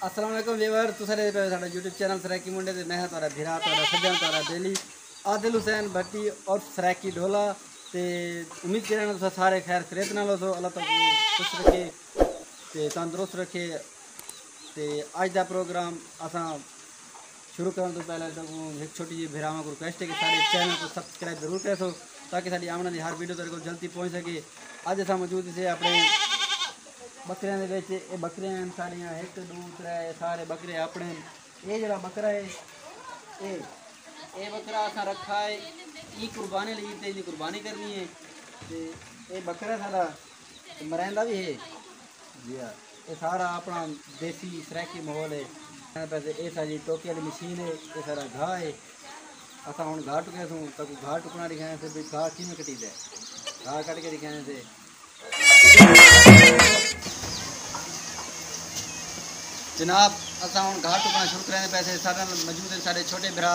السلام علیکم ویور تساں دے پے ساڈا یوٹیوب چینل سرائیکی منڈے تے میں ہاں تہاڈا بھرا تہاڈا سجن تہاڈا بیلی عادل حسین بھٹی اور سرائیکی ڈھولا تے امید کرے نا تساں سارے خیر خریت نال ہوسو اللہ تعالی خوش رکھے تے تندرست رکھے تے اج دا پروگرام اساں شروع کرن تو پہلے تو ایک چھوٹی جی بھراواں کو ریکویسٹ ہے کہ سارے چینل کو سبسکرائب ضرور کرے سو تاکہ ساری آمنا دی ہر ویڈیو تیرے کو جلدی پہنچ سکے اج اسا موجود سے اپنے بکریاں دے وچ اے بکریاں ہیں ساری ہیں ایک دو ترے سارے بکرے اپنے اے جڑا بکرا ہے اے اے بکرا اسا رکھا ہے ای قربانی لئی تے قربانی کرنی ہے تے اے بکرا سارا مریندا بھی ہے جی ہاں اے سارا اپݨا دیسی سرائیکی ماحول اے۔ کھیݨ پئے سے اے ساݙی ٹوکے آلی مشین اے اے ساݙا گھا اے اساں ہݨ گھا ٹکئے سوں تاکوں گھا ٹکݨا ݙکھائیں سے بھئی گھا کیویں کٹیدے گھا کٹ کے ݙکھائیں سے۔ جناب اساں ہݨ گھا ٹکݨا شروع کریندے پئے سے ساݙے نال موجود ہن ساݙے چھوٹے بھرا۔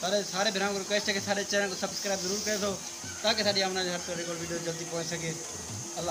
سارے سارے بھراواں کوں ریکویسٹ ہے کہ ساڈے چینل کوں سبسکرائب ضرور کریسو تاکہ ساڈی آوݨ والی ہر طرح دی کول ویڈیو جلدی پہنچ سکے اللہ